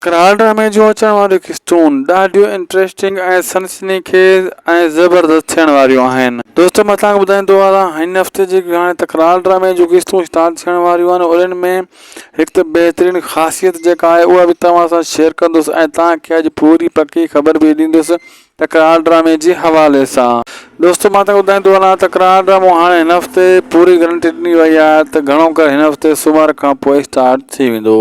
ڪراڙ ڊرامي جون اچڻ واريون قسطون ڏاڍيون انٽريسٽنگ ۽ سنسني خيز ۽ زبردست ٿيڻ واريون آهن. دوستو مان توهان کي ٻڌائين ٿو هلان هن هفتي جيڪي هاڻي ته ڪراڙ ڊرامي جون قسطون اسٽارٽ ٿيڻ واريون آهن انهن ۾ هڪ ته بهترين خاصيت جيڪا آهي اها به توهان سان شيئر ڪندس ۽ توهان کي اڄ پوري پڪي خبر به ڏيندس ته ڪراڙ ڊرامي جي حوالي سان. دوستو مان توهان کي ٻڌائين ٿو هلان ته ڪراڙ ڊرامو هاڻي هن هفتي پوري گرنٽي ڏني وئي آهي ته گهڻو ڪري هن هفتي سومر کان پوء اسٽارٽ ٿي ويندو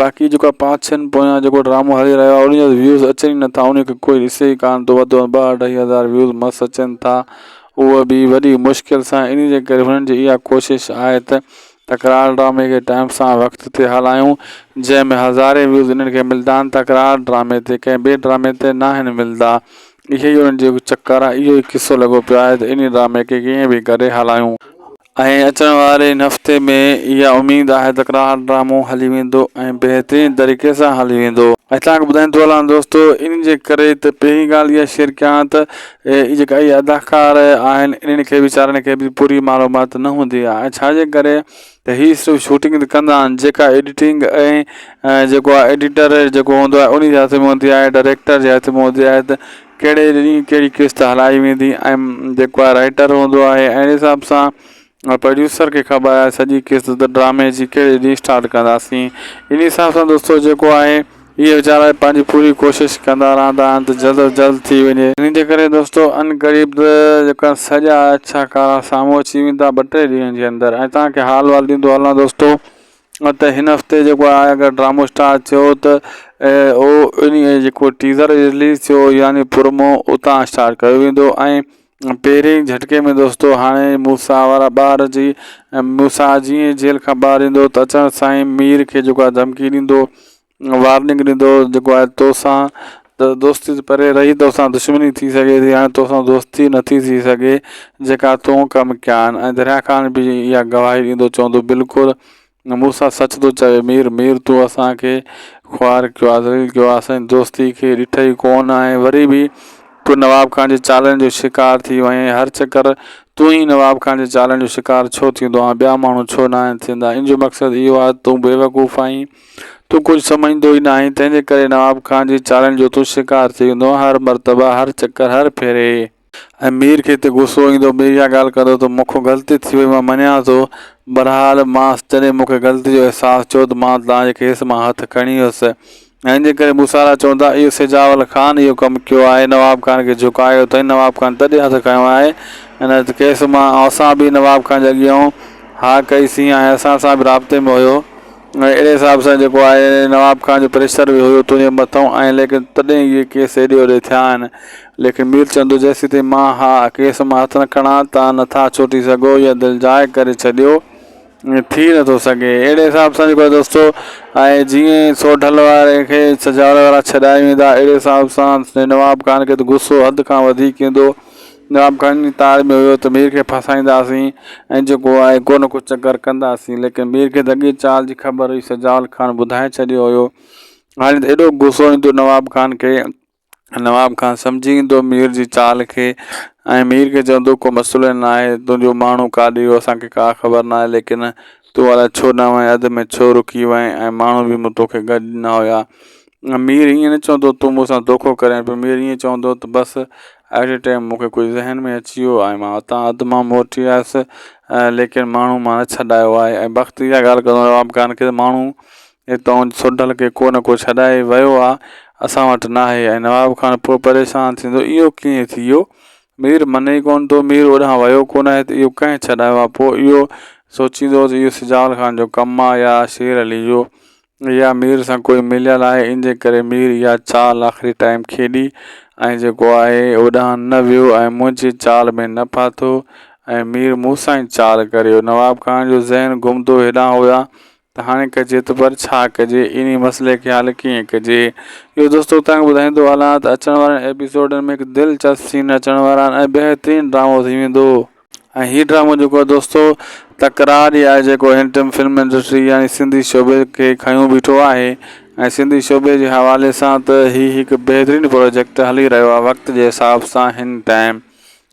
باقي جيڪو آ پانچ ڇهن پويان جيڪو ڊرامو هلي رهيو آهي ان جا ويوز اچن ئي نٿا ان کي ڪوئي ڏسي ئي ڪانه ٿو وڌ ٻه اڍائي هزار ويوز مس اچن ٿا اهو به وڏي مشڪل سان ان جي ڪري هنن جي اها ڪوشش آهي ته تڪرار ڊرامي کي ٽائم سان وقت تي هلائيون جنهن ۾ هزارين ويوز انهن کي ملدا آهن تڪرار ڊرامي تي ڪنهن ٻئي ڊرامي تي ناهن ملدا اهي ئي انهن جي چڪر آهي. اهو ئي قصو لڳو پيو آهي ته انهي ڊرامي کي ڪيئن به ڪري هلائون. ۽ اچڻ واري ان هفتي ۾ اها اميد آهي ته ڪراڙ ڊرامو هلي ويندو ۽ بهترين طريقي سان هلي ويندو. ۽ توهان کي ٻڌائيندو هلان دوستو انهي جي ڪري ته پهرين ڳالهه اها شيئر ڪيان ته اهي جيڪا اهي اداڪار آهن انهن کي ويچارن کي به پوري معلومات نه هوندي آهي ۽ ڇا جي ڪري ته هي صرف شوٽنگ ته ڪندا آهن جيڪا ايڊيٽنگ ۽ جيڪو آهي ايڊيٽر جيڪو هوندو آهي انهي جي هٿ ۾ هوندي آهي ڊائريڪٽر جي هٿ ۾ هوندي آهي ته ڪهڙي ڏينهن ڪهڙي قسط هلائي ويندي ۽ جيڪو آهي رائيٽر هوندو آهي اهڙي حساب سان پروڊيوسر کي خبر آهي سڄي قسط ته ڊرامي جي ڪهڙي ڏينهن اسٽارٽ ڪنداسين انهي حساب سان دوستو جيڪو آهي اهي ويچارا به پنهنجي پوري ڪوشش ڪندا رهندا آهن ته جلد از جلد ٿي وڃي. انهيء جي ڪري دوستو ان قريب ته جيڪا سڄا اڇا ڪارا سامهون اچي ويندا ٻه ٽي ڏينهن جي اندر ۽ توهان کي حال وال ڏيندو هلان دوستو ته هن هفتي جيڪو آهي اگر ڊرامو اسٽارٽ ٿيو ته اهو انهيء جيڪو ٽيزر رليز ٿيو يعني پرومو اتان اسٽارٽ ڪيو ويندو ۽ پهرين جهٽڪي ۾ دوستو هاڻي موسيٰ وارا ٻار جي ۽ موسيٰ جيئن جيل کان ٻاهر ايندو ته اچڻ سان ئي مير کي جيڪو آهي ڌمڪي ڏيندو وارننگ ڏيندو جيڪو آهي توسان ته دوستي ته پري رهي توسان دشمني ٿي سگهي ٿي هاڻي توسان دوستي نه ٿي ٿي سگهي جيڪا تون ڪم ڪيا آهن ۽ دريا خان به اها گواهي ڏيندو چوندو بلڪل موسيٰ سچ ٿو چوي مير، مير تو اسان کي خوار ڪيو آ ذليل ڪيو آ اسان جي دوستي کي ڏٺئي ڪون ۽ وري به تو نواب خان جي چالن جو شڪار ٿي وئين هر چڪر تون ئي نواب خان جي چالن جو شڪار ڇو ٿيندو آهين ٻيا ماڻهو ڇو ناهن ٿيندا ان جو مقصد اهو آهي ته تون بيوقوف آهين تون ڪجهه سمجهندو ئي ناهين تنهنجي ڪري نواب خان جي چالن جو تون شڪار ٿي ويندو آهين هر مرتبه هر چڪر هر ڦيري ۽ مير کي تي غصو ايندو مير اها ڳالهه ڪندو ته مون کون غلطي ٿي وئي مان مڃان ٿو بهرحال مانس جڏهن مون کي غلطي جو احساس ٿيو ته مان توهان جي کيس مان هٿ کڻي ويس ۽ انهي ڪري موسارا چون ٿا اهو سجاول خان اهو ڪم ڪيو آهي نواب خان کي جهڪايو اٿئين نواب خان تڏهن هٿ کنيو آهي ۽ نه ته کيس مان اسان به نواب خان جي اڳيئون ها ڪئي سين ۽ اسان سان به رابطي ۾ هيو اهڙي حساب سان جيڪو آهي نواب خان جو پريشر به هيو تنهنجي مٿئون آهي ليڪن تڏهن اهي ڪيس هيڏي هوڏي ٿيا آهن ليڪن مير چندو جيسيتائين مان اها ڪيس مان هٿ نه کڻا تان نه ٿا ڇوٽي سگهو يا دل جاء ڪري ڇڏيو ائين ٿي نه ٿو سگهي اهڙي حساب سان جيڪو دوستو آهي جيئن سوڍل واري کي سجاول وارا ڇڏائي ويندا اهڙي حساب سان نواب خان کي ته غصو حد کان وڌيڪ ايندو جواب، گهڻن جي تار ۾ هيو ته مير کي ڦاسائينداسين ۽ جيڪو آهي ڪو نه ڪو چڪر ڪنداسين ليڪن مير کي ته اڳيئي چال جي خبر هئي سجاول خان ٻڌائي ڇڏيو هيو هاڻي ته ايڏو غصو ايندو نواب خان کي نواب خان سمجهي ويندو مير جي چال کي ۽ مير کي چوندو ڪو مسئلو ئي ناهي تنهنجو ماڻهو ڪاڏي ويو اسان کي ڪا خبر ناهي ليڪن تون الائي ڇو نه وئين اڌ ۾ ڇو رڪي وئين ۽ ماڻهو به مون توکي گڏ نه هيا مير ائين نه چوندو تون مون سان دوکو ڪرين پيو مير ائين چوندو ته بس اهڙي ٽيم مون کي ڪجهه ذهن ۾ اچي ويو ۽ مان اتان اڌ مان موٽي آيس ليڪن ماڻهو مان نه ڇڏايو آهي ۽ بخت اها ڳالهه ڪندو رهيو آهي ڪان ڪري ماڻهو هتان هن سونڍل کي ڪو نه ڪو ڇڏائي ويو آهي اسان وٽ ناهي ۽ نواب خان پوء پريشان ٿيندو اهو ڪيئن ٿي ويو مير مني ئي ڪونه ٿو مير اوڏانهن ويو ڪونه آهي ته اهو ڪنهن ڇڏايو آهي پوء اهو سوچيندو هو ته اهو سجاول خان جو ڪم آهي يا شير علي جو يا مير سان ڪوئي مليل آهي ان جي ڪري مير اها چال آخري ٽائيم کيڏي ۽ جيڪو آهي اوڏانهن نه ويو ۽ منهنجي چال ۾ نه ڦاٿو ۽ مير مون سان ئي چال ڪري ويو نواب خان جو ذهن گهمندو هيڏانهن هوڏانهن ته هاڻي ڪجي ته پر ڇا ڪجي انهي مسئلي کي حل ڪيئن ڪجي اهو دوستو توهان کي ٻڌائيندو هلان ته اچڻ وارن ايپيسوڊن ۾ هڪ دلچسپ سين اچڻ وارا آهن ۽ بهترين ڊرامو ٿي ويندو. ۽ هي ڊرامو جيڪو آهي دوستو تڪرار ئي آهي جيڪو هن ٽيم فلم انڊسٽري يا سنڌي شعبي کي کنيو بيٺو آهي ۽ سنڌي شعبي جي حوالي سان ته هي هڪ بهترين پروجيڪٽ هلي رهيو آهي وقت جي حساب سان هن ٽائيم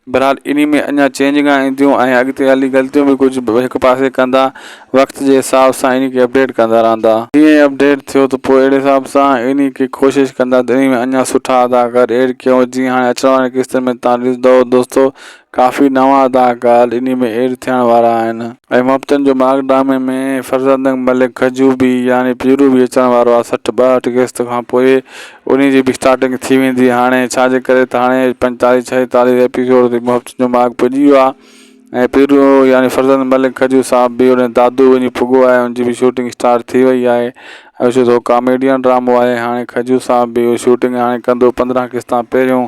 بهرحال انهي ۾ اڃا چينجنگا اينديون ۽ اڳتي هلي غلطيون به ڪجهه هڪ پاسي ڪندا وقت جي حساب سان انهي کي اپڊيٽ ڪندا رهندا جيئن ئي اپڊيٽ ٿيو ته پوء اهڙي حساب سان انهي کي ڪوشش ڪندا ته انهي ۾ اڃا سٺا اداڪار ايڊ ڪيون جيئن هاڻي اچڻ وارين قسطن ۾ تهان ڏسندؤ دوستو ڪافي نوان اداڪار انهي ۾ ايڊ ٿيڻ وارا آهن ۽ مبتن جو ماڳ ڊرامي ۾ فرزندنگ ملڪ کجوبي يعني پيرو به اچڻ وارو آهي سٺ ٻاهٺ قسط کان پوء انهي جي به اسٽارٽنگ ٿي ويندي هاڻي ڇا جي ڪري ته هاڻي پنجيتاليهه ڇهيتاليهه ايپيسوڊ تي مبتن جو ماڳ پڄي ويو آهي ۽ پيرو يعني فرزند ملڪ کجو صاحب به انهي دادو وڃي پڳو آهي ان جي به شوٽنگ اسٽارٽ ٿي وئي آهي ۽ ڇو ته هو ڪاميڊين ڊرامو آهي هاڻي کجو صاحب به اهو شوٽنگ هاڻي ڪندو پندرهن قسطان پهريون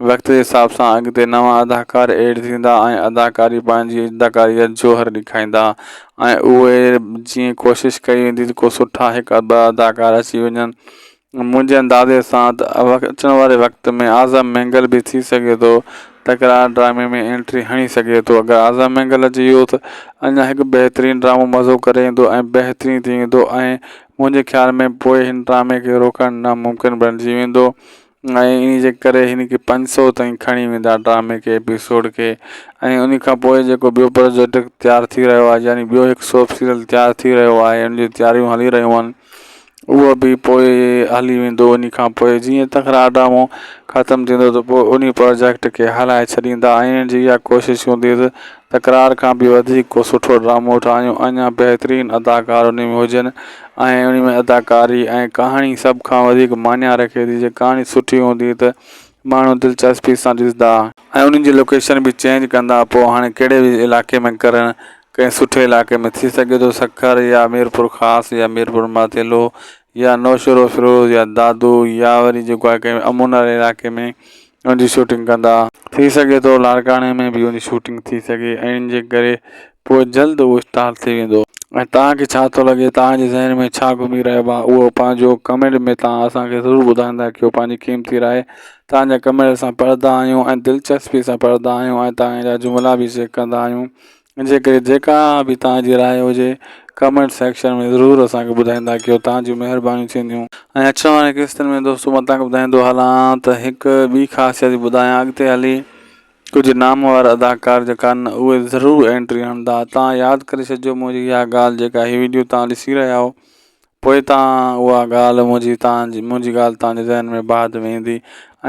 وقت جي حساب سان اڳتي نوان اداڪار ايڊ ٿيندا ۽ اداڪاري پنهنجي اداڪاري جا جوهر ڏيکائيندا ۽ اهي جيئن ڪوشش ڪئي ويندي ته ڪو سٺا هڪ ٻه اداڪار اچي وڃن منهنجي اندازي سان ته اچڻ واري وقت ۾ اعظم مينگل به ٿي سگهي ٿو تڪرار ڊرامي ۾ انٽري هڻي سگهي ٿو اگر اعظم مينگل اچي ويو ته اڃا هڪ بهترين ڊرامو مزو ڪري ايندو ۽ بهترين ٿي ويندو ۽ منهنجي خيال ۾ پوء هن ڊرامي کي روڪڻ ناممڪن بڻجي ويندو ۽ انهي جي ڪري هن کي پنج سؤ تائين کڻي ويندا ڊرامي کي ايپيسوڊ کي ۽ انهي کان پوء جيڪو ٻيو پروجيڪٽ تيار ٿي رهيو آهي يعني ٻيو هڪ سوپ سيريل تيار ٿي رهيو آهي ان جون تياريون هلي رهيون آهن اهو به پوء هلي ويندو انهي کان پوء جيئن تڪرار ڊرامو ختم ٿيندو ته پوء انهي پروجيڪٽ کي هلائي ڇڏيندا ۽ انهن جي اها ڪوشش هوندي ته تڪرار کان به وڌيڪ ڪو سٺو ڊرامو ٺاهيون اڃا بهترين اداڪار انهي ۾ هجن ۽ انهي ۾ اداڪاري ۽ ڪهاڻي سڀ کان وڌيڪ معني رکي ٿي جي ڪهاڻي سٺي هوندي ته ماڻهو دلچسپي سان ڏسندا ۽ انهن جي لوڪيشن به چينج ڪندا پوء هاڻي ڪهڙي به علائقي ۾ ڪرڻ ڪنهن سٺي علائقي ۾ ٿي سگهي ٿو سکر يا ميرپورخاص يا ميرپورماٿيلو يا نوشهروفيروز يا دادو يا وري جيڪو آهي ڪنهن امن واري علائقي ۾ ان جي شوٽنگ ڪندا. ٿي سگهي ٿو لاڙڪاڻي ۾ به ان جي شوٽنگ ٿي سگهي ۽ ان جي ڪري پوء جلد اهو اسٽارٽ ٿي ويندو. ۽ توهان کي ڇا ٿو لڳي توهان جي ذهن ۾ ڇا گهمي رهيو آهي اهو پنهنجو ڪمينٽ ۾ توهان اسان کي ضرور ٻڌائيندا ڪيو پنهنجي قيمتي راء توهان جا ڪمينٽ اسان پڙهندا آهيون ۽ دلچسپي سان پڙهندا آهيون ۽ توهان جا جملا به چيڪ ڪندا آهيون ان جي ڪري جيڪا به توهان جي راء هجي ڪمينٽ سيڪشن ۾ ضرور اسان کي ٻڌائيندا ڪيو توهان جون مهربانيون ٿينديون. ۽ اچڻ وارين قسطن ۾ دوستو مان توهان کي ٻڌائيندو هلان ته هڪ ٻي خاصيت به ٻڌايان اڳتي هلي ڪجهه نامور اداڪار جيڪا آهن اهي ضرور اينٽري هڻندا توهان ياد ڪري ڇڏجو منهنجي اها ڳالهه جيڪا هي وڊيو توهان ڏسي رهيا آهيو پوء ته اها ڳالهه منهنجي توهان جي منهنجي ڳالهه توهان جي ذهن ۾ بعد ۾ ايندي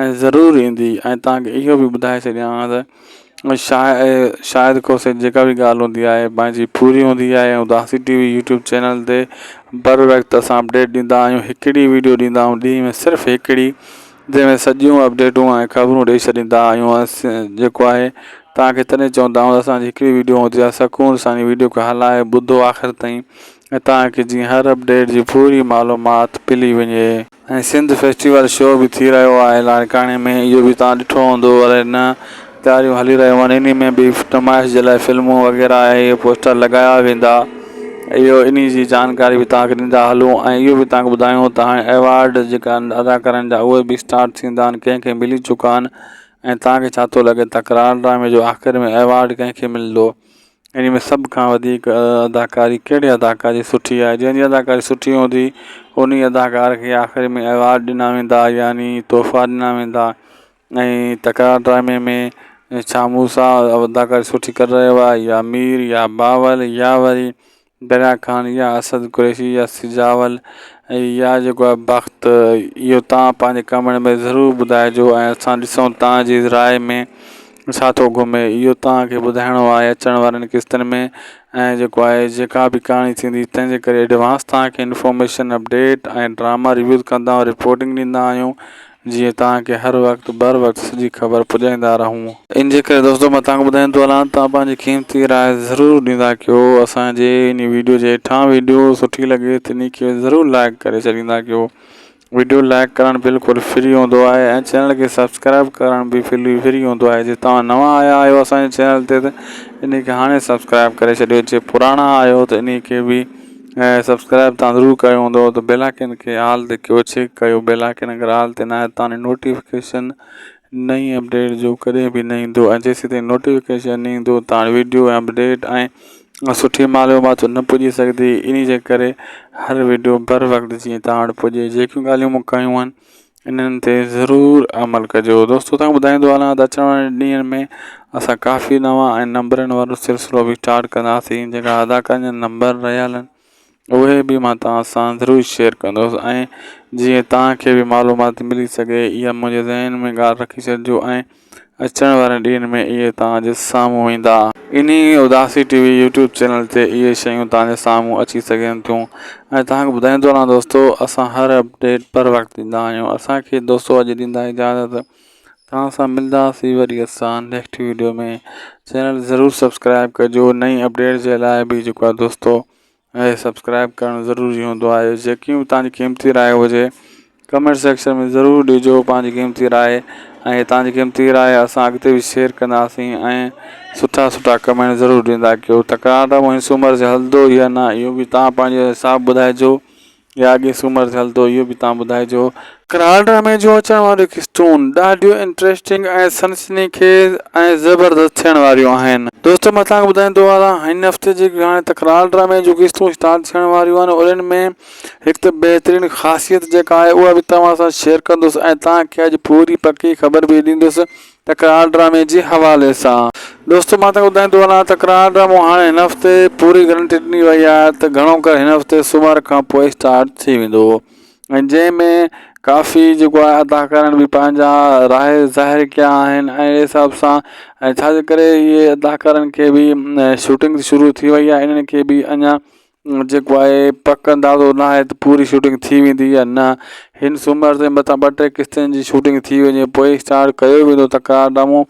۽ ضرور ايندي ۽ توهان کي اهو به ٻڌائي ڇڏيان ها ته شايد شايد ڪو سي جيڪا به ڳالهه هوندي آهي پنهنجي پوري هوندي آهي ۽ داسي ٽي وي يوٽيوب چينل تي بر وقت اسان اپڊيٽ ڏيندا آهيون هڪڙي ويڊيو ڏيندا آهيون ڏينهن ۾ صرف هڪڙي جنهن ۾ سڄيون اپڊيٽون ۽ خبرون ڏئي ڇڏيندا آهيون اسين جيڪو آهي توهان کي تڏهن چوندا آهيون اسان جي هڪڙي ويڊيو هوندي آهي سڪون سان ان ويڊيو کي هلائي ٻڌو آخر تائين ۽ تان ڪي جيئن هر اپ ڊيٽ جي پوري معلومات پلي وڃي. ۽ سنڌ فيسٽيول شو به ٿي رهيو آهي لاڙڪاڻي ۾ اهو به توهان ڏٺو هوندو الئي نه تياريون هلي رهيون آهن انهي ۾ به نمائش جي لاء فلمون وغيره ۽ اهي پوسٽر لڳايا ويندا اهو انهي جي جانڪاري به توهان کي ڏيندا هلون ۽ اهو به توهان کي ٻڌايون ته هاڻي ايوارڊ جيڪا آهن ادا ڪرڻ جا اهي به اسٽارٽ ٿيندا آهن ڪنهن کي ملي چڪا آهن ۽ توهان کي ڇا ٿو لڳي تڪرار ڊرامي جو آخر ۾ ايوارڊ ڪنهن کي ملندو انهي ۾ سڀ کان وڌيڪ اداڪاري ڪهڙي اداڪار جي سٺي آهي جنهن جي اداڪاري سٺي هوندي انهي اداڪار کي آخر ۾ ايوارڊ ڏنا ويندا يعني تحفا ڏنا ويندا ۽ تڪرار ڊرامي ۾ ڇا مون سان اداڪاري سٺي ڪري رهيو آهي يا مير يا باول يا وري دريا خان يا اسد قريشي يا سجاول ۽ يا جيڪو آهي بخت اهو تان پنهنجي ڪمينٽ ۾ ضرور ٻڌائجو ۽ اسان ڏسون تان جي راء ۾ ڇا ٿو گهمي اهو تان کي ٻڌائڻو آهي اچڻ وارين قسطن ۾ ۽ جيڪو آهي جيڪا به ڪهاڻي ٿيندي تنهن جي ڪري ايڊوانس تان کي انفارميشن اپڊيٽ ۽ ڊراما ريويوز ڪندا رپورٽنگ ڏيندا آهيون جيئن توهان کي هر وقت بر وقت سڄي خبر پڄائيندا رهون. ان جي ڪري دوستو مان توهان کي ٻڌائين ٿو هلان توهان پنهنجي قيمتي راء ضرور ڏيندا ڪيو اسان جي انهي ويڊيو جي هيٺان ويڊيو سٺي لڳي ته انهي کي ضرور لائيڪ ڪري ڇڏيندا ڪيو ويڊيو لائيڪ ڪرڻ بلڪل فري هوندو آهي ۽ چينل کي سبسڪرائيب ڪرڻ به فري هوندو آهي جي توهان نوان آيا آهيو اسان جي چينل تي ته انهي کي هاڻي سبسڪرائيب ڪري ڇڏيو جي پراڻا آهيو ته انهي کي به ۽ سبسڪرائب تان ضرور ڪيو هوندو ته بيل آئڪن کي آل تي ڪيو چيڪ ڪيو بيل آئڪن اگر آل تي ناهي تاني نوٽيفڪيشن نئين اپڊيٽ جو ڪڏهن به نه ايندو ۽ جيسين تائين نوٽيفڪيشن نه ايندو تاڻي ويڊيو ۽ اپڊيٽ ۽ سٺي معلومات نه پڄي سگهندي انهي جي ڪري هر ويڊيو بر وقت جيئن تان وٽ پڄي جيڪيون ڳالهيون مون ڪيون آهن انهن تي ضرور عمل ڪجو دوستو تنگ ٻڌائيندو هلان ته اچڻ وارن ڏينهن ۾ اسان ڪافي نوان ۽ نمبرن وارو سلسلو به اسٽارٽ ڪنداسين جيڪا اداڪارن جا نمبر رهيل آهن اهي به مان توهان سان ضرور شيئر ڪندوس ۽ جيئن توهان کي به معلومات ملي سگهي اها منهنجي ذهن ۾ ڳالهه رکي ڇڏجو ۽ اچڻ وارن ڏينهن ۾ اهي توهان جي سامهون ايندا. انهي اداسي ٽي وي يوٽيوب چينل تي اهي شيون توهان جي سامهون اچي سگهن ٿيون ۽ توهان کي ٻڌائيندو رهان دوستو اسان هر اپڊيٽ پر وقت ڏيندا آهيون اسان کي دوستو اڄ ڏيندا اجازت توهان سان ملداسي وري اسان نيڪٽ ويڊيو ۾ چينل ضرور سبسڪرائب ڪجو نئين اپڊيٽ جي لاء به جيڪو آهي دوستو ۽ سبسڪرائب ڪرڻ ضروري هوندو آهي جيڪي به تنهنجي قيمتي راء هجي ڪمينٽ سيڪشن ۾ ضرور ڏجو پنهنجي قيمتي راء ۽ تنهنجي قيمتي راء اسان اڳتي به شيئر ڪنداسين ۽ سٺا سٺا ڪمينٽ ضرور ڏيندا ڪيو تڪرار ته مونسومر جي هلندو يا نه اهو به توهان پنهنجو حساب ٻڌائجو يا اڳئين سومر تي هلندو اهو به توهان ٻڌائجو. ڪراڙ ڊرامي جو اچڻ واريون قسطون ڏاڍيون انٽريسٽنگ ۽ سنسني خيز ۽ زبردست ٿيڻ واريون آهن. دوستو مان توهان کي ٻڌائيندو هلاان هن هفتي جي هاڻي ته ڪراڙ ڊرامي جون قسطون اسٽارٽ ٿيڻ واريون آهن انهن ۾ هڪ ته بهترين خاصيت جيڪا آهي اها به توهان سان شيئر ڪندس ۽ توهان کي اڄ پوري پڪي خبر به ڏيندس تڪرار ڊرامي جي حوالي سان دوستو مان تنگ ٻڌائيندو هلان تڪرار ڊرامو هاڻي هن هفتي پوري گرنٽي ڏني وئي آهي ته گهڻو ڪر هن هفتي سومر کان پوء اسٽارٽ ٿي ويندو ۽ جنهن ۾ ڪافي جيڪو آهي اداڪارن به پنهنجا راء ظاهر ڪيا آهن ۽ اهڙي حساب سان ۽ ڇاجي ڪري اهي اداڪارن کي به شوٽنگ شروع ٿي وئي آهي انهن کي به اڃان جيڪو آهي پڪ اندازو نه آهي ته پوري شوٽنگ ٿي ويندي يا نه هن سومر تي متان ٻه ٽي قسطن جي شوٽنگ ٿي وڃي پوء ئي اسٽارٽ ڪيو ويندو تڪرار ڊرامو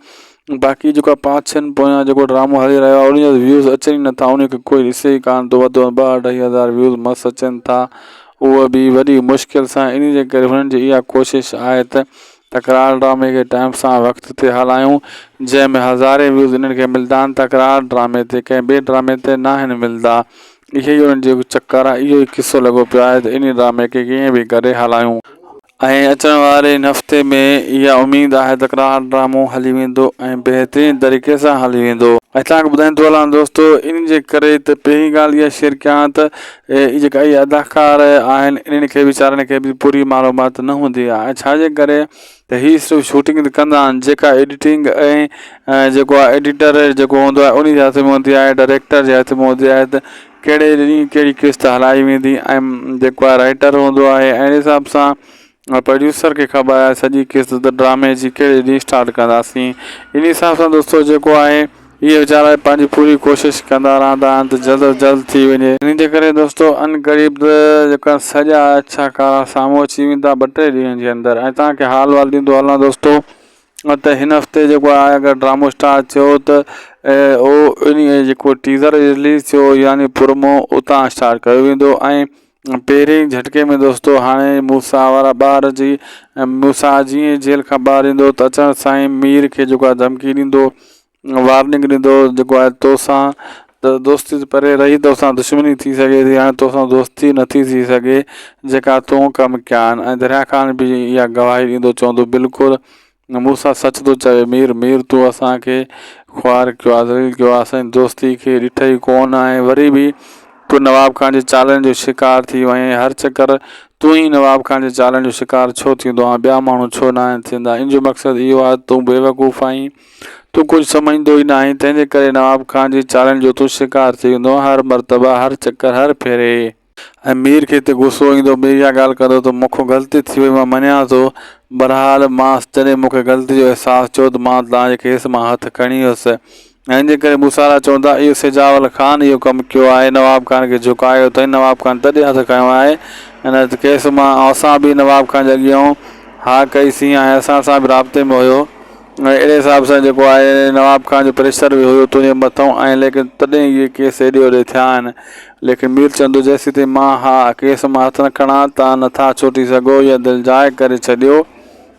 باقي جيڪو آهي پانچ ڇهن پويان جيڪو ڊرامو هلي رهيو آهي ان جا ويوز اچن ئي نٿا ان کي ڪوئي ڏسي ئي ڪانه ٿو وڌ ۾ وڌ ٻه اڍائي هزار ويوز مس اچن ٿا اهو به وڏي مشڪل سان ان جي ڪري هنن جي اها ڪوشش آهي ته تڪرار ڊرامي کي ٽائيم سان وقت تي هلايون جنهن ۾ هزارين ويوز انهن کي ملدا آهن تڪرار ڊرامي تي ڪنهن ٻئي ڊرامي تي ناهن ملدا اهي ئي انهن جو چڪر آهي اهو ئي قصو لڳو پيو آهي ته انهي ڊرامي کي ڪيئن به ڪري هلايون ۽ اچڻ واري ان هفتي ۾ اها اميد آهي تڪرار ڊرامو هلي ويندو ۽ بهترين طريقي سان هلي ويندو. ۽ توهان کي ٻڌائيندو هلان دوستو انهي جي ڪري ته پهرين ڳالهه اها شيئر ڪيان ته هي جيڪا اهي اداڪار آهن انهن کي ويچارن کي به پوري معلومات نه هوندي آهي ڇا جي ڪري ته هي صرف شوٽنگ ته ڪندا آهن جيڪا ايڊيٽنگ ۽ جيڪو آهي ايڊيٽر جيڪو هوندو آهي انهي جي هٿ ۾ هوندي آهي ڊائريڪٽر جي هٿ ۾ هوندي آهي ته ڪهڙي ڏينهن ڪهڙي قسط هلائي ويندي ۽ جيڪو آهي رائيٽر هوندو آهي اهڙي حساب سان پروڊيوسر کي خبر آهي سڄي قسط ته ڊرامي جي ڪهڙي ڏينهن اسٽارٽ ڪنداسين ان حساب سان دوستو جيڪو آهي اهي ويچارا پنهنجي پوري ڪوشش ڪندا رهندا آهن ته جلد از جلد ٿي وڃي ان جي ڪري دوستو ان قريب ته جيڪا سڄا اڇا ڪارا سامهون اچي ويندا ٻه ٽي ڏينهن جي اندر ۽ توهان کي حال وال ڏيندو هلان دوستو ته هن هفتي جيڪو آهي اگر ڊرامو اسٽارٽ ٿيو ته اهو ان جيڪو ٽيزر رليز ٿيو يعني پرمو اتان اسٽارٽ ڪيو ويندو ۽ پهرين جهٽڪي ۾ دوستو هاڻي موسيٰ وارا ٻار جي موسيٰ جيئن جيل کان ٻاهر ايندو ته اچڻ سان ئي مير کي جيڪو آهي ڌمڪي ڏيندو وارننگ ڏيندو جيڪو آهي توسان ته دوستي ته پري رهي توسان دشمني ٿي سگهي ٿي هاڻي توسان دوستي نٿي ٿي سگهي جيڪا تون ڪم ڪيا آهن ۽ دريا خان به اها گواهي ڏيندو چوندو بلڪل موسيٰ سچ ٿو چوي مير، مير تون اسان کي خوار ڪيو آ ذليل ڪيو آ اسان جي دوستي کي ڏٺئي ڪون ۽ وري به تون نواب خان جي چالن جو شڪار ٿي وئين هر چڪر تون ئي نواب خان جي چالن جو شڪار ڇو ٿيندو آهين ٻيا ماڻهو ڇو ناهن ٿيندا ان جو مقصد اهو آهي ته تون بيوقوف آهين تون ڪجهه سمجهندو ئي ناهين تنهنجي ڪري نواب خان جي چالن جو تون شڪار ٿي ويندو آهين هر مرتبه هر چڪر هر ڦيري ۽ مير کي تي غصو ايندو مير اها ڳالهه ڪندو ته مون کون غلطي ٿي وئي مان مڃان ٿو بهرحال مانس جڏهن مون کي غلطي جو احساس ٿيو ته مان توهان جي کيس مان هٿ کڻي ويس ۽ ان جي ڪري موسارا چوندا اهو سجاول خان اهو ڪم ڪيو آهي نواب خان کي جهڪايو اٿئين نواب خان تڏهن هٿ کنيو آهي ان ته کيس مان اسان به نواب خان جي اڳيئون ها ڪئي سين ۽ اسان سان به رابطي ۾ هيو ۽ اهڙي حساب سان جيڪو آهي نواب خان جو پريشر به هيو تنهنجي مٿئون ۽ ليڪن تڏهن اهي ڪيس هيڏي هوڏي ٿيا آهن ليڪن مير چندو جيسيتائين مان اھا ڪيس مان ھٿ نه کڻان تان نه ٿا ڇوٽي سگھو يا دل جاء ڪري ڇڏيو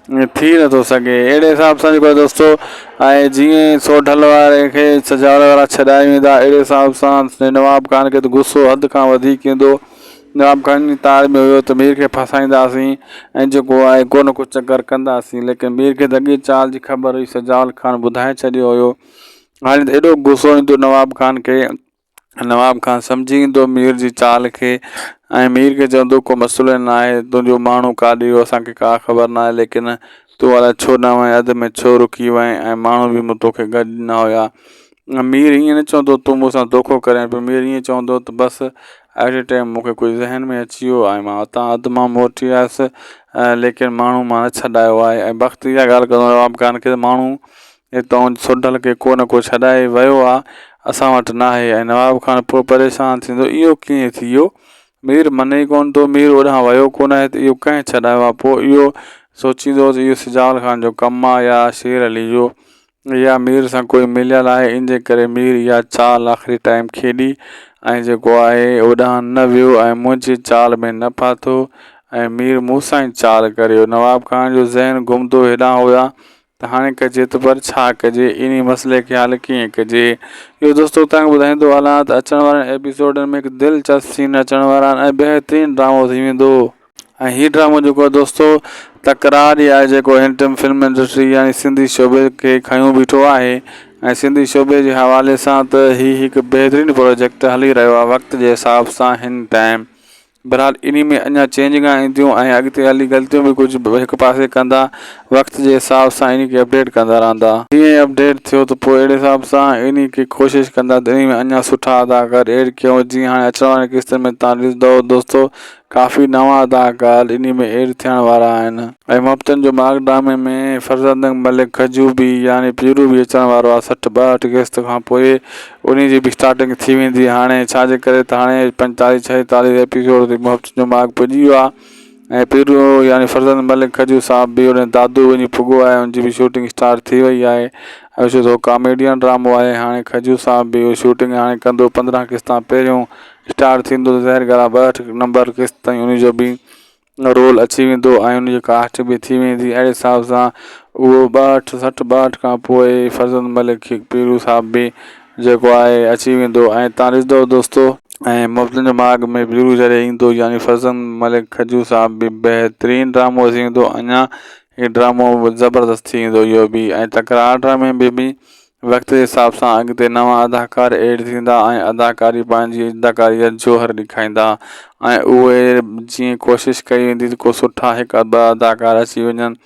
ائين ٿي نه ٿو سگھي اھڙي حساب سان جيڪو آھي دوستو ۽ جيئن سوڍل واري کي سجاول وارا ڇڏائي ويندا اھڙي حساب سان نواب خان کي ته غصو حد کان وڌيڪ ايندو نواب خان جي تار ۾ ھيو ته مير کي ڦاسائينداسين ۽ جيڪو آھي ڪو نه ڪو چڪر ڪنداسين ليڪن مير کي ته اڳيئي چال جي خبر ھئي سجاول خان ٻڌائي ڇڏيو ھيو ھاڻي ته ايڏو غصو ايندو نواب خان کي نواب خان سمجهي ايندو مير جي چال کي ۽ مير کي چوندو ڪو مسئلو نه آهي، تنهنجو ماڻهو ڪاڏي ويو اسان کي ڪا خبر نه آهي ليڪن تون الائي ڇو نه وئين اڌ ۾ ڇو رڪي وئين ۽ ماڻهو به مون توکي گڏ نه هيا. مير ائين نه چوندو تون مون سان دوکو ڪرين پيو مير ائين چوندو ته بس ائٽ اي ٽائيم مون کي ڪجهه ذهن ۾ اچي ويو ۽ مان اتان اڌ مان موٽي آيس ليڪن ماڻهو مان نه ڇڏايو آهي ۽ بخت اها ڳالهه ڪندو نواب خان کي ته ماڻهو ۽ توهان سوڍل کي ڪو نه ڪو ڇڏائي ويو آ اسان وٽ ناهي ۽ نواب خان پوء پريشان ٿيندو اهو ڪيئن ٿي ويو مير مني ئي ڪونه ٿو مير اوڏانهن ويو ڪونه آهي ته اهو ڪنهن ڇڏايو آ پوء اهو سوچيندو ته اهو سجاول خان جو ڪم آ يا شير علي جو يا مير سان ڪوئي مليل آهي ان جي ڪري مير اها چال آخري ٽائيم کيڏي ۽ جيڪو آهي اوڏانهن نه ويو ۽ منهنجي چال ۾ نه ڦاٿو ۽ مير مون سان ئي چال ڪريو نواب خان جو ذهن گهمندو هيڏانهن هو يا ته هاڻي ڪجي ته پر ڇا ڪجي؟ انهي مسئلي کي حل ڪيئن ڪجي؟ اهو دوستو توهان کي ٻڌائيندو هلان ته اچڻ وارن ايپيسوڊن ۾ هڪ دلچسپ سين اچڻ وارا آهن ۽ بهترين ڊرامو ٿي ويندو ۽ هي ڊرامو جيڪو آهي دوستو تڪرار ئي آهي جيڪو هن ٽئم فلم انڊسٽري يعني سنڌي شعبي کي کنيو بيٺو آهي ۽ سنڌي شعبي جي حوالي سان ته هي هڪ بهترين پروجيڪٽ هلي رهيو آهي وقت جي حساب سان هن ٽئم بھرحال انھي ۾ اڃا چينجنگا اينديون ۽ اڳتي ھلي غلطيون به ڪجھ ھڪ پاسي ڪندا وقت جي حساب سان انھي کي اپڊيٽ ڪندا رھندا. جيئن ئي اپڊيٽ ٿيو ته پوء اھڙي حساب سان انھي کي ڪوشش ڪندا ته انھي ۾ اڃا سٺا اداڪار ايڊ ڪيون جيئن ھاڻي اچڻ وارين قسطن ۾ توھان ڏسندؤ دوستو ڪافي نوان اداڪار انھي ۾ ايڊ ٿيڻ وارا آھن. اھي محبتن جو ماڳ ڊرامي ۾ فرزندنگ ملڪ کجوڀي يعني پيرو به اچڻ وارو آھي سٺ ٻاھٺ قسط کان پوء انهي جي به اسٽارٽنگ ٿي ويندي هاڻي ڇا جي ڪري ته هاڻي پنجيتاليهه ڇهيتاليهه ايپيسوڊ تي محبت جو ماڳ پڄي ويو آهي ۽ پيرو يعني فرزند ملڪ کجور صاحب به هن دادو وڃي پڳو آهي ان جي به شوٽنگ اسٽارٽ ٿي وئي آهي ۽ ڇو ته هو ڪاميڊين ڊرامو آهي هاڻي کجور صاحب به اهو شوٽنگ هاڻي ڪندو پندرهن قسطان پهريون اسٽارٽ ٿيندو ته ظاهر ڳالهه آهي ٻهٺ نمبر قسط تائين انهي جو به ان رول اچي ويندو ۽ ان جي ڪاسٽ به ٿي ويندي اهڙي حساب سان اهو ٻاهٺ سٺ ٻاهٺ کان پوء فرزند ملڪ کي پيرو صاحب به جيڪو آهي اچي ويندو ۽ تان ڏسندو دوستو ۽ محبتن جي ماڳ ۾ پيرو جڏهن ايندو يعني فرزند ملڪ کجو صاحب به بهترين ڊرامو اچي ويندو اڃان هي ڊرامو زبردست ٿي ويندو اهو به ۽ تڪرار ڊرامي ۾ به وقت جي حساب سان اڳتي نوان اداڪار ايڊ ٿيندا ۽ اداڪاري پنهنجي اداڪاري جا جوهر ڏيکائيندا ۽ اهي جيئن ڪوشش ڪئي ويندي ته ڪو سٺا هڪ ٻه اداڪار اچي وڃن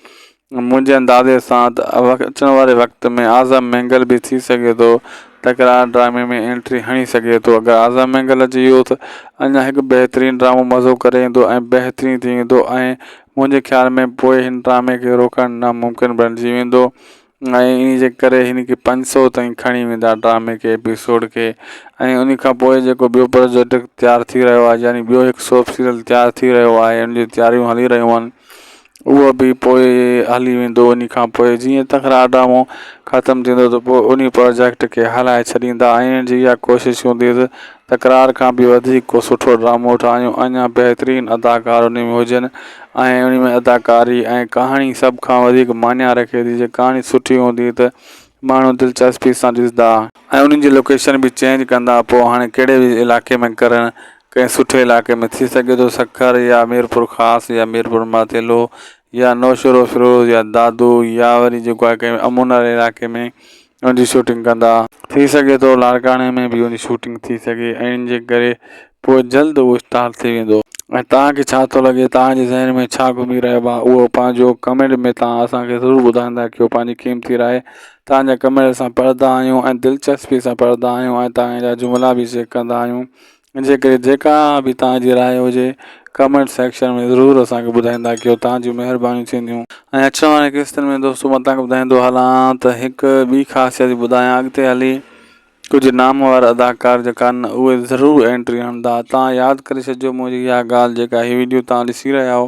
منهنجي اندازي سان ته اچڻ واري وقت ۾ اعظم مينگل به ٿي سگهي ٿو تڪرار ڊرامي ۾ انٽري هڻي سگهي ٿو اگر اعظم مينگل اچي ويو ته اڃا هڪ بهترين ڊرامو مزو ڪري ايندو ۽ بهترين ٿي ويندو ۽ منهنجي خيال ۾ پوء هن ڊرامي کي روڪڻ ناممڪن بڻجي ويندو ۽ انهي جي ڪري هن کي پنج سؤ تائين کڻي ويندا ڊرامي کي ايپيسوڊ کي ۽ انهي کان پوء جيڪو ٻيو پروجيڪٽ تيار ٿي رهيو آهي يعني ٻيو هڪ سوپ سيريل تيار ٿي رهيو آهي ان جون تياريون هلي رهيون آهن اهو به پوء هلي ويندو انهي کان پوء جيئن تڪرار ڊرامو ختم ٿيندو ته پوء انهي پروجيڪٽ کي هلائي ڇڏيندا ۽ انهن جي اها ڪوشش هوندي ته تڪرار کان به وڌيڪ ڪو سٺو ڊرامو ٺاهيون اڃا بهترين اداڪار انهي ۾ هجن ۽ انهي ۾ اداڪاري ۽ ڪهاڻي سڀ کان وڌيڪ معني رکي ٿي جي ڪهاڻي سٺي هوندي ته ماڻهو دلچسپي سان ڏسندا ۽ انهن جي لوڪيشن به چينج ڪندا پوء هاڻي ڪهڙي به علائقي ۾ ڪرڻ ڪنهن سٺي علائقي ۾ ٿي سگهي ٿو سکر يا ميرپورخاص يا ميرپورماٿيلو يا نوشهروفيروز يا دادو يا وري جيڪو آهي ڪنهن امن واري علائقي ۾ ان جي شوٽنگ ڪندا. ٿي سگهي ٿو لاڙڪاڻي ۾ به ان جي شوٽنگ ٿي سگهي ۽ ان جي ڪري پوء جلد اهو اسٽار ٿي ويندو. ۽ توهان کي ڇا ٿو لڳي توهان جي ذهن ۾ ڇا گهمي رهيو آهي اهو پنهنجو ڪمينٽ ۾ توهان اسان کي ضرور ٻڌائيندا ڪيو پنهنجي قيمتي راء توهان جا ڪمينٽ اسان پڙهندا آهيون ۽ دلچسپي سان پڙهندا آهيون ۽ توهان جا جملا به چيڪ ڪندا آهيون انجي ڪري جيڪا به توهان جي راء هجي ڪمينٽ سيڪشن ۾ ضرور اسان کي ٻڌائيندا ڪيو توهان جون مهربانيون ٿينديون. ۽ اچڻ وارين قسطن ۾ دوستو مان توهان کي ٻڌائيندو هلان ته هڪ ٻي خاصيت به ٻڌايان اڳتي هلي ڪجهه نامور اداڪار جيڪا آهن اهي ضرور اينٽري هڻندا توهان ياد ڪري ڇڏجو منهنجي اها ڳالهه جيڪا هي وڊيو توهان ڏسي رهيا آهو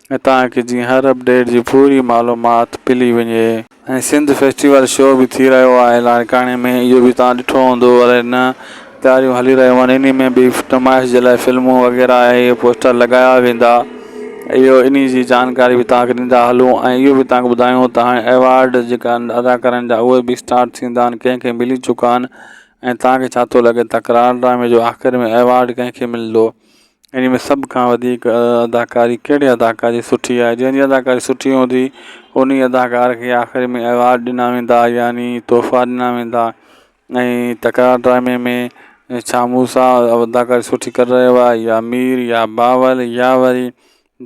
۽ تان ڪي جيئن هر اپ ڊيٽ جي پوري معلومات پلي وڃي. ۽ سنڌ فيسٽيول شو به ٿي رهيو آهي لاڙڪاڻي ۾ اهو به توهان ڏٺو هوندو الائي نه تياريون هلي رهيون آهن انهي ۾ به نمائش جي لاء فلمون وغيره ۽ اهي پوسٽر لڳايا ويندا اهو انهي جي جانڪاري به توهان کي ڏيندا هلون ۽ اهو به توهان کي ٻڌايون ته هاڻي ايوارڊ جيڪا ادا ڪرڻ جا اهي به اسٽارٽ ٿيندا آهن ڪنهن کي ملي چڪا آهن ۽ توهان کي ڇا ٿو لڳي تڪرار ڊرامي جو آخر ۾ ايوارڊ ڪنهن کي ملندو انهي ۾ سڀ کان وڌيڪ اداڪاري ڪهڙي اداڪار جي سٺي آهي جنهن جي اداڪاري سٺي هوندي انهي اداڪار کي آخر ۾ ايوارڊ ڏنا ويندا يعني تحفا ڏنا ويندا ۽ تڪرار ڊرامي ۾ ڇا موسيٰ اداڪاري سٺي ڪري رهيو آهي يا مير يا بابل يا وري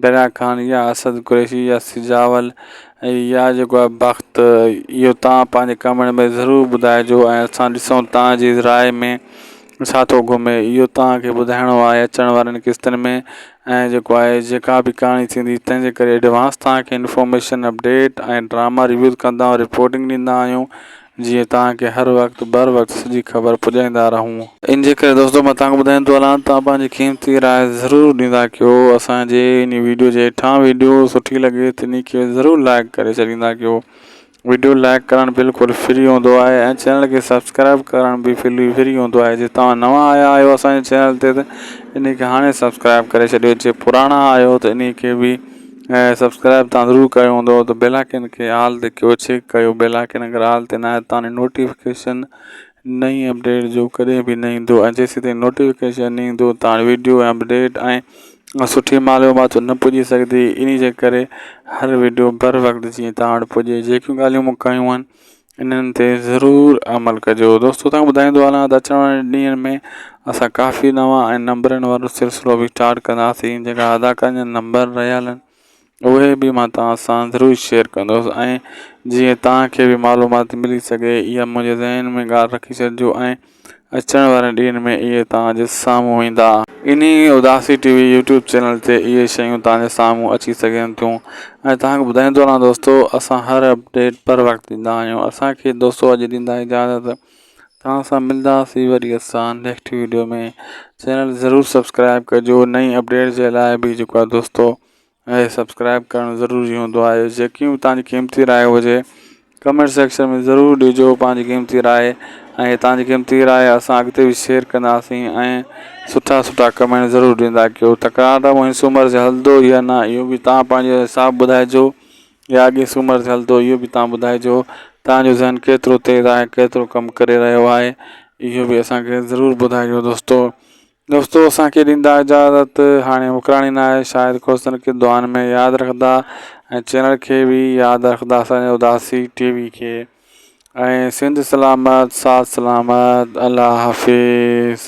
دريا خان يا اسد قريشي يا سجاول ۽ يا جيڪو آهي بخت اهو توهان پنهنجي ڪمينٽ ۾ ضرور ٻڌائجو ۽ اسان ڏسون توهان جي راء ۾ ڇا ٿو گهمي اهو توهان کي ٻڌائڻو آهي اچڻ وارين قسطن ۾ ۽ جيڪو آهي جيڪا به ڪهاڻي ٿيندي تنهن جي ڪري ايڊوانس توهان کي انفارميشن اپڊيٽ ۽ ڊراما ريويوز ڪندا رپورٽنگ ڏيندا آهيون جيئن توهان کي هر وقت بر وقت سڄي خبر پڄائيندا رهون. ان جي ڪري دوستو مان توهان کي ٻڌائين ٿو هلان توهان پنهنجي قيمتي راء ضرور ڏيندا ڪيو اسان جي انهي ويڊيو جي هيٺان ويڊيو سٺي لڳي ته انهي کي ضرور لائيڪ ڪري ڇڏيندا ڪيو ويڊيو لائيڪ ڪرڻ بلڪل فري هوندو آهي ۽ چينل کي سبسڪرائيب ڪرڻ به فري هوندو آهي جي توهان نوان آيا آهيو اسان جي چينل تي ته انهي کي هاڻي سبسڪرائيب ڪري ڇڏيو جي پراڻا آهيو ته انهي کي به ۽ سبسڪرائب تان ضرور ڪيو هوندو ته بيل آئڪن کي آل تي ڪيو چيڪ ڪيو بيل آئڪن اگر آل تي ناهي تاني نوٽيفڪيشن نئين اپڊيٽ جو ڪڏهن به نه ايندو ۽ جيسين تائين نوٽيفڪيشن نه ايندو تان ويڊيو ۽ اپڊيٽ ۽ سٺي معلومات نه پڄي سگهندي انهي جي ڪري هر ويڊيو بر وقت جيئن تان وٽ پڄي جيڪيون ڳالهيون مون ڪيون آهن انهن تي ضرور عمل ڪجو دوستو توهان کي ٻڌائيندو هلان ته اچڻ وارن ڏينهن ۾ اسان ڪافي نوان ۽ نمبرن وارو سلسلو به اسٽارٽ ڪنداسين جيڪا اداڪارن جا نمبر رهيل آهن اهي به مان توهان سان ضرور شيئر ڪندس ۽ جيئن توهان کي به معلومات ملي سگهي اها منهنجي ذهن ۾ ڳالهه رکي ڇڏجو ۽ اچڻ وارن ڏينهن ۾ اهي توهان جي سامهون ايندا. انهي اداسي ٽي وي يوٽيوب چينل تي اهي شيون توهان جي سامهون اچي سگهن ٿيون ۽ توهان کي ٻڌائيندو رهان دوستو اسان هر اپڊيٽ پر وقت ڏيندا آهيون اسان کي دوستو اڄ ڏيندا اجازت توهان سان ملداسي وري اسان نيڪٽ ويڊيو ۾ چينل ضرور سبسڪرائب ڪجو نئين اپڊيٽ جي لاء به جيڪو آهي دوستو ۽ سبسڪرائب ڪرڻ ضروري هوندو آهي جيڪي به تنهنجي قيمتي راء هجي ڪمينٽ سيڪشن ۾ ضرور ڏجو پنهنجي قيمتي راء ۽ تنهنجي قيمتي راء اسان اڳتي به شيئر ڪنداسين ۽ سٺا سٺا ڪمينٽ ضرور ڏيندا ڪيو تڪرار ته مونجهي سومر تي هلندو يا نه اهو به توهان پنهنجو حساب ٻڌائجو يا اڳي سومر تي هلندو اهو به توهان ٻڌائجو تنهنجو ذهن ڪيترو تيز آهي ڪيترو ڪم ڪري رهيو آهي اهو به اسان کي ضرور ٻڌائجو دوستو دوستو اسان کي ڏيندا اجازت هاڻي وڪراڻي نه آهي شايد کوسن کي دعائن ۾ ياد رکندا ۽ چينل کي به ياد رکندا اسانجي اداسي ٽي وي کي ۽ سنڌ سلامت ساٿ سلامت الله حافظ.